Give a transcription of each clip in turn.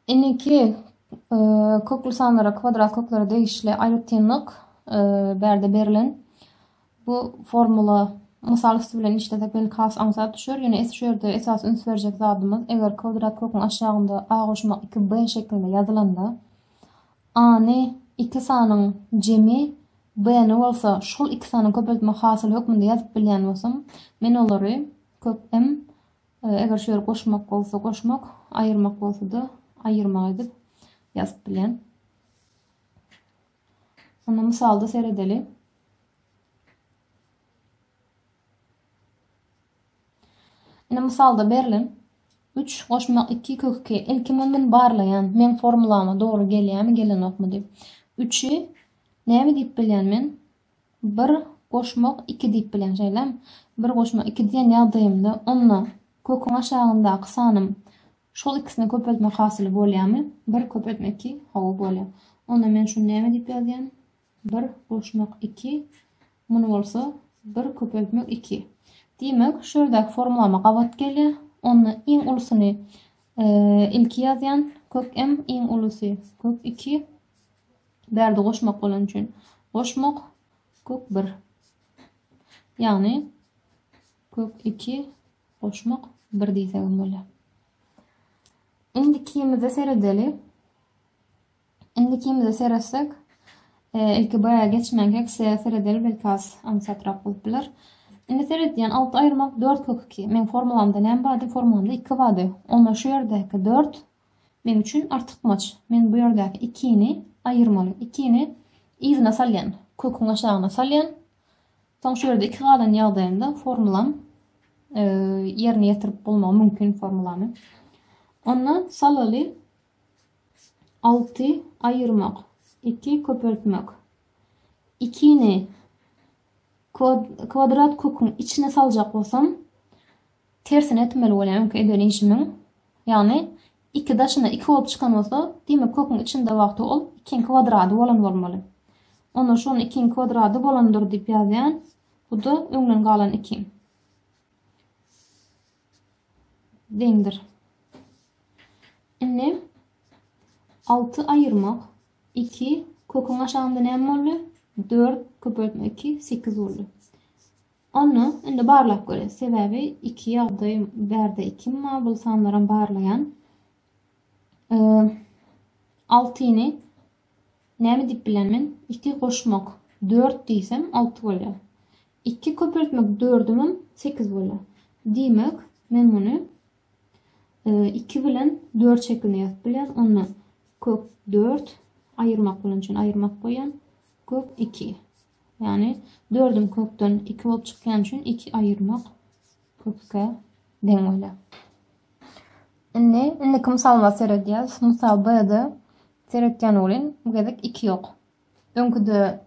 Indiki kökli sanlara kwadrat kökleri degişli aýratynlyk bärde berilen. Bu formula mysal üsti bilen işlesek belki has aňsat düşer. Ýöne şu ýerde esasy üns berjek zadymyz eger kwadrat köküň aşagynda a goşmak 2b şeklinde ýazylanda a-ny iki sanyň jemi b-ni bolsa şol iki sanyň köpeltme hasyly hökmünde ýazyp bilýän bolsam men olary kök m Eger şu ýeri goşmak bolsa goşmak, aýyrmak bolsa-da aýyrmak edip ýazyp bilýän. Onda mysalda seredeli. Ine mysalda berlen 3 goşmak 2 kök 2. Ilki men barlaýan, men formulama dogry gelýärmi, gelenokmy diýip. 3-i näme diýip bilýän men? Bir goşmak iki diýip bilýän, şeýlemi? Bir goşmak iki diýen ýagdaýymda, onda köküň aşagyndaky sanym şol ikisini köpeltmek hasyly bolýarmy? Bir köpeltmek iki, hawa, bolýar. Onda men şuny näme diýip ýazýan? Bir goşmak iki, muny bolsa bir köpeltmek iki. Diýmek, şu ýerdäki formulama gabat gelýär. Onda iň ulusyny ilki ýazýan, kök m iň ulusy kök iki, Bärde goşmak bolany üçin goşmak kök bir. Ýagny kök iki goşmak bir diýsegem bolýar. Indikimize seredeli. Indikimize seretsek, e, ilki baya geçmänkä kisiä seredeli belki az aňsatrak bolup biler. Indi seredýän alty aýyrmak dört kök iki. Meň formulamda näme bardy? Formulamda iki bardy. Onda şu ýerdäki dört Meň üçin artykmaç. Men bu ýerdäki ikini aýyrmaly. Ikini yzyna salýan. Köküň aşagyna salýan. Soň şu ýerde iki galan ýagdaýynda formulam ýerine ýetirip bolmagy mümkin formulany. Onda salaly 6 aýyrmak, 2 köpeltmek. Ikini kwadrat köküň içine saljak bolsam, Tersine etmeli bolýan öňki eden işimiň. Ýagny iki daşyna iki bolup çykan bolsa, diýmek köküň içinde wagty ol ikiň kwadrady bolan bolmaly. Onda şony ikiň kwadrady bolandyr diýip ýazýan. Bu-da öňden galan iki. Deňdir. Indi alty aýyrmak iki köküň aşagynda näme boldy? Dört köpeltme iki sekiz boldy. Onda indi barlap görýäs. Sebäbi iki ýagdaý bärde ikim bar, bul sanlaram barlaýan. Altyny näme diýip bilen men? Iki goşmak dört diýsem alty bolýar. Iki köpeltmek dördümem sekiz bolýar. Diýmek, men muny iki bilen dört şekilinde ýazyp bilýän. Onda kök dört aýyrmak bilen üçin aýyrmak goýýan. Kök iki. Ýagny dördüm kökden iki bolup çykýany üçin iki aýyrmak köke deň bolýar. Indi indiki mysalymyza seredýäs. Mysal B-de seretýän welin bu gezek iki ýok. Öňküde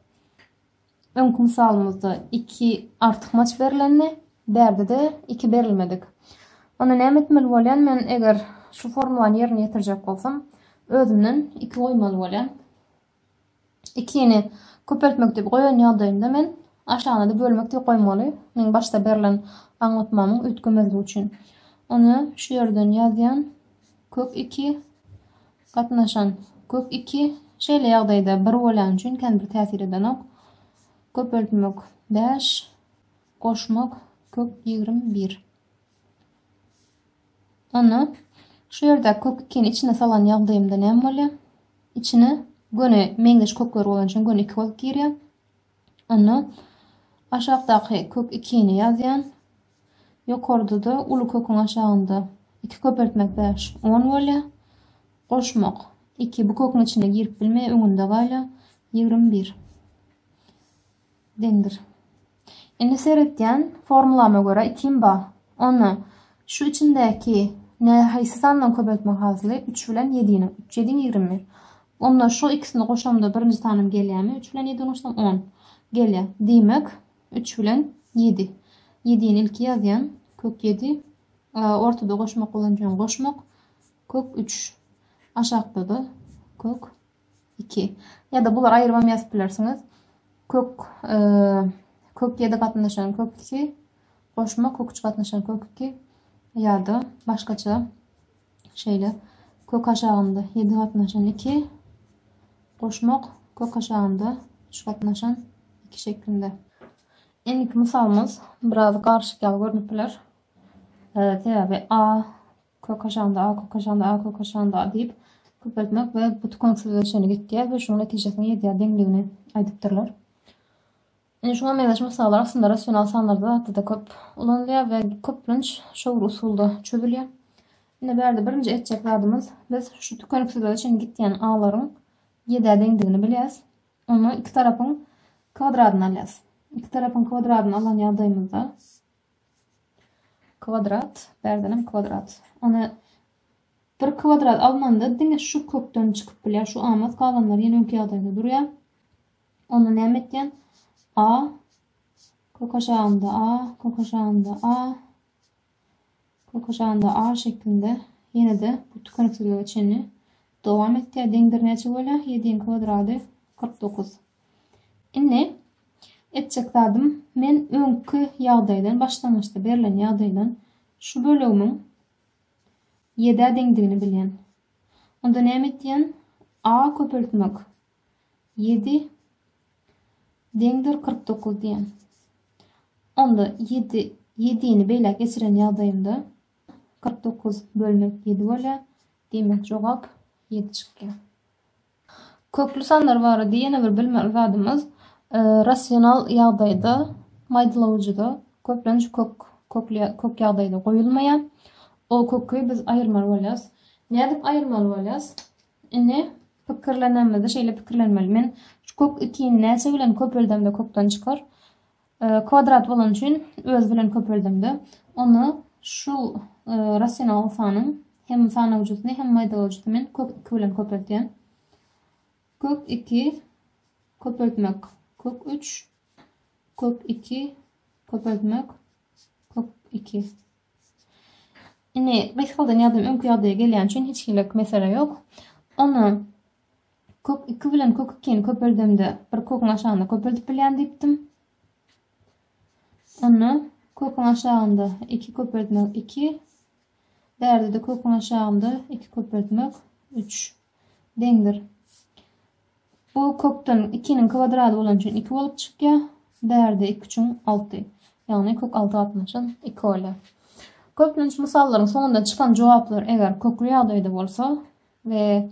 öňki mysalymyzda iki artykmaç berlendi. Bärde-de iki berilmedik. Onda näme etmeli bolýan? Men eger şu formulany ýerine ýetirjek bolsam, özümden iki goýmaly bolýan. Ikini köpeltmek diýip goýan ýagdaýynda men aşagyna-da bölmek diýip goýmaly. Meň başda berlen aňlatmamyň üýtgemezligi üçin. Ony şu ýerden ýazýan. Kök iki gatnaşan kök iki şeýle ýagdaýda bir bolýan üçin känbir täsir edenok. Köpeltmek bäş, goşmak kök ýigrimi bir. Onda şu ýerdäki kök ikini içine salan ýagdaýymda näme bolýar? Içine göni meňzeş kökler bolan üçin göni iki bolup girýär. Onda aşakdaky kök ikini ýazýan. Ýokarda-da uly köküň aşagynda iki köpeltmek bäş on bolýar. Goşmak iki bu köküň içine girip bilmeýär, öňünde galýar. Ýigrimi bir. Deňdir. Indi seretýän formulama görä ikim ba. Onda şu içindäki ne haýsy sandan köpeltme hasyly? Üç bilen ýediniň. Üç ýediň ýigrimi. Onda şu ikisini goşamda birinji sanym gelýärmi? Üç bilen ýedini goşsam on. Gelýär. Diýmek, üç bilen ýedi. Ýedini ilki ýazýan. Kök ýedi. Ortada goşmak bolanjaň goşmak. Kök üç. Aşakda-da kök Iki. Ýa-da bulary aýrybam ýazyp bilersiňiz. Kök kök ýedi gatnaşan kök iki. Goşma kök üç gatnaşan kök iki. Ýa-da başgaça şeýle kök aşagynda ýedi gatnaşan iki. Goşmak kök aşagynda üç gatnaşan iki şeklinde. Indiki mysalymyz biraz garşyk ýaly görnüp biler. Sebäbi a Kökaşanda, a kökaşanda, a kökaşanda diýip köpeltmek we bu tukaňsyzlyga çenli gitýär we şunuň netijesine ýetýär deňligini aýdypdyrlar. Indi şuňa meňzeş mysallar aslynda rasional sanlarda zatda-da köp ulanylýar we köplenç şo bir usulda çözülýär. Indi bärde birinji etjek zadymyz biz şu tükeniksizlige çenli gitýän alaryň ýedä deňdigini bilýäs. Ondan iki tarapyň kwadradyny alýas. Iki tarapyň kwadradyny alan ýagdaýymyzda Kwadrat, bärdenem kwadrat. Ony bir kwadrat alnanda diňe şu kökden çykyp bilýär. Şu almaz galanlar ýene öňki ýagdaýda durýar. Onda näme etýän? A kök aşagynda A, kök aşagynda A, kök aşagynda A şeklinde ýene-de bu tükeniksizlige çenli dowam etýär. Deňdir näçe bolýar? 7-iň kwadrady 49. Indi etjek zadym men öňki ýagdaýdan başlangyçda berlen ýagdaýdan şu bölegimiň ýedä deňdigini bilýän. Onda näme etýän? A köpeltmek. Ýedi deňdir kyrk dokuz diýýän. Onda ýedi ýedini beýläk geçiren ýagdaýymda kyrk dokuz bölmek ýedi bolýar. Diýmek jogap ýedi çykýar. Kökli sanlar barada ýene bir bilmeli zadymyz, rasional ýagdaýda, maýdalawujyda köplenç kök kökli kök ýagdaýda goýulmaýar. O köki biz aýyrmaly bolýarys. Nädip aýyrmaly bolýarys? Indi pikirlenenimizde şeýle pikirlenmeli, men şu kök ikini näçe bilen köpeldemde kökden çykar? Kwadrat bolany üçin öz bilen köpeldiňde, onda şu rasional sanyň hem sanawjysyny, hem maýdawaýjysyny men kök iki bilen köpeltýän. Kök iki köpeltmek kök üç, kök iki köpeltmek kök iki. Indi gysgaldan ýazym öňki ýagdaýa gelýän üçin hiç hili mesele ýok. Onda Kök iki bilen kök ikini köpeldemde bir köküň aşagynda köpeldip bilýän diýipdim. Onda köküň aşagynda iki köpeltmek iki. Bärde-de köküň aşagynda iki köpeltmek üç. Deňdir. Bu kökden ikiniň kvadrady bolan üçin iki bolup çykýar. Bärde iki üçin alty. Ýagny kök alty gatnaşan iki bolýar. Köplenç mysallaryň soňunda çykan jogaplar eger kökli ýagdaýda bolsa, we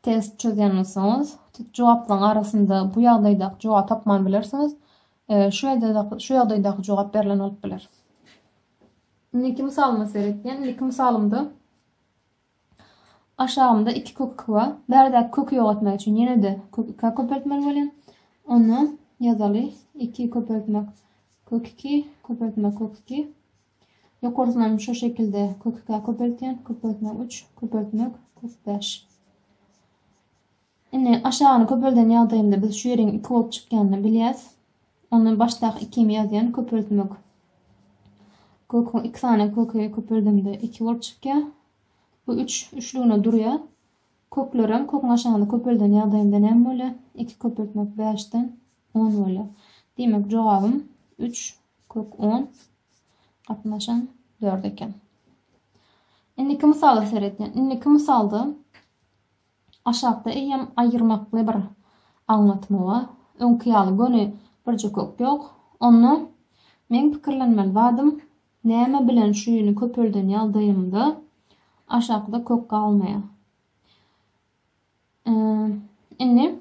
test çözýän bolsaňyz, jogaplaryň arasynda bu ýagdaýdaky jogaby tapman bilersiňiz, şu ýagdaýdaky şu ýagdaýdaky jogap berlen bolup biler. Indiki mysalyma seretýän, indiki mysalymda aşagymda 2 kök 2 bar. Bärdäki köki ýok etmek üçin ýene-de kök 2 köpeltmeli bolýan. Onda ýazaly 2 köpeltmek kök 2 köpeltmek kök 2 Ýokarsynam şo şekilde kökikä köpeltýän, köpeltmek üç, köpeltmek, kök bäş. Indi aşagyny köpelden ýagdaýymda biz şu ýeriň iki bolup çykýanyny bilýäs. Onda başdaky ikimi ýazýan, köpeltmek. Köküň iki sany köki köpeldimde iki bolup çykýar. Bu üç, üçlügine durýar. Köklerem köküň aşagyny köpelden ýagdaýynda näme bolýar? Iki köpeltmek bäşden on bolýar. Diýmek, jogabym üç kök on gatnaşan dört eken. Indiki mysala seredýän. Indiki mysalda aşakda eýýäm aýyrmakly bir aňlatma bar. Öňki ýaly göni birje kök ýok. Onda meň pikirlenmeli zadym Näme bilen şüýüni köpelden ýagdaýymda aşakda kök galmaýar. Indi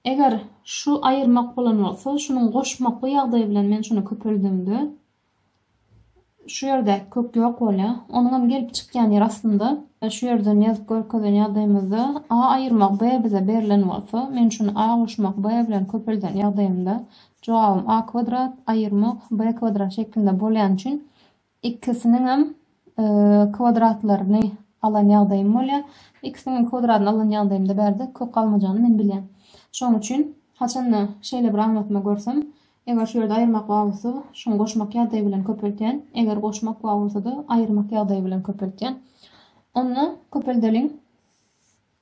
eger şu aýyrmak bolan bolsa, şunuň goşmakly ýagdaýy bilen men şuny köpeldimde şu ýerde kök ýok bolýar. Onuň hem gelip çykýan ýeri aslynda e, şu ýerden ýazyp görkezen ýagdaýymyzda A aýyrmak B bize berlen bolsa, men şuny A goşmak B bilen köpelden ýagdaýymda Jogabym a kwadrat aýyrmak b kwadrat şeklinde bolýany üçin ikisiniňem kwadratlaryny alan ýagdaýym bolýar. Ikisiniňem kwadratyny alan ýagdaýymda bärde kök galmajany men bilýän. Şonuň üçin haçanda şeýle bir aňlatma görsem, eger şu ýerde aýyrmak bar bolsa, şuňy goşmak ýagdaýy bilen köpeltýän, eger goşmak bar bolsa-da, aýyrmak ýagdaýy bilen köpeltýän. Onda köpeldeliň.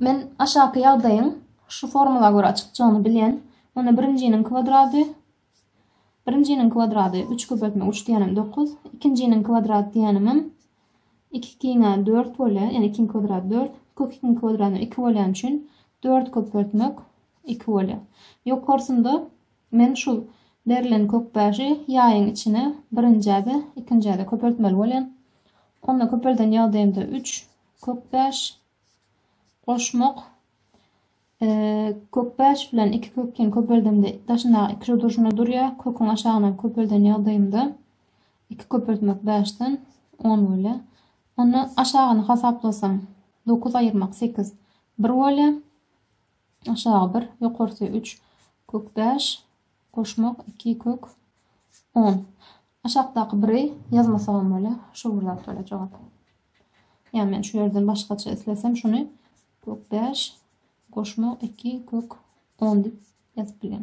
Men aşaky ýagdaýyň şu formula görä çykjagyny bilýän. Onda birinjiniň kwadrady, birinjiniň kwadrady, üç köpeltme üç diýenim dokuz, ikinjiniň kwadrady diýenimem iki ikiňe dört bolýar, ýagny ikiň kwadrady dört, kök ikiň kwadrady iki bolýan üçin dört köpeltmek iki bolýar. Ýokarsynda men şu berlen kök bäşi ýaýyň içine birinjä-de, ikinjä-de köpeltmeli bolýan. Onda köpelden ýagdaýymda üç, Kökbäş goşmak Kökbäş bilen iki kökini köpeldemde daşyndaky iki durşuna durýar. Köküň aşagyna köpelden ýagdaýynda iki köpeltmek bäşden on bolýar. Onda aşagyny hasaplasaň dokuz aýyrmak sekiz bir bolýar. Aşagy bir, ýokarsy üç. Kökbäş Goşmak, iki kök on. Aşakdaky biri ýazmasagam bolýar. Şu bir zat bolýar jogap. Ýa men şu ýerden başgaça islesem şuny kök bäş goşmak iki kök on diýip ýazyp bilýän.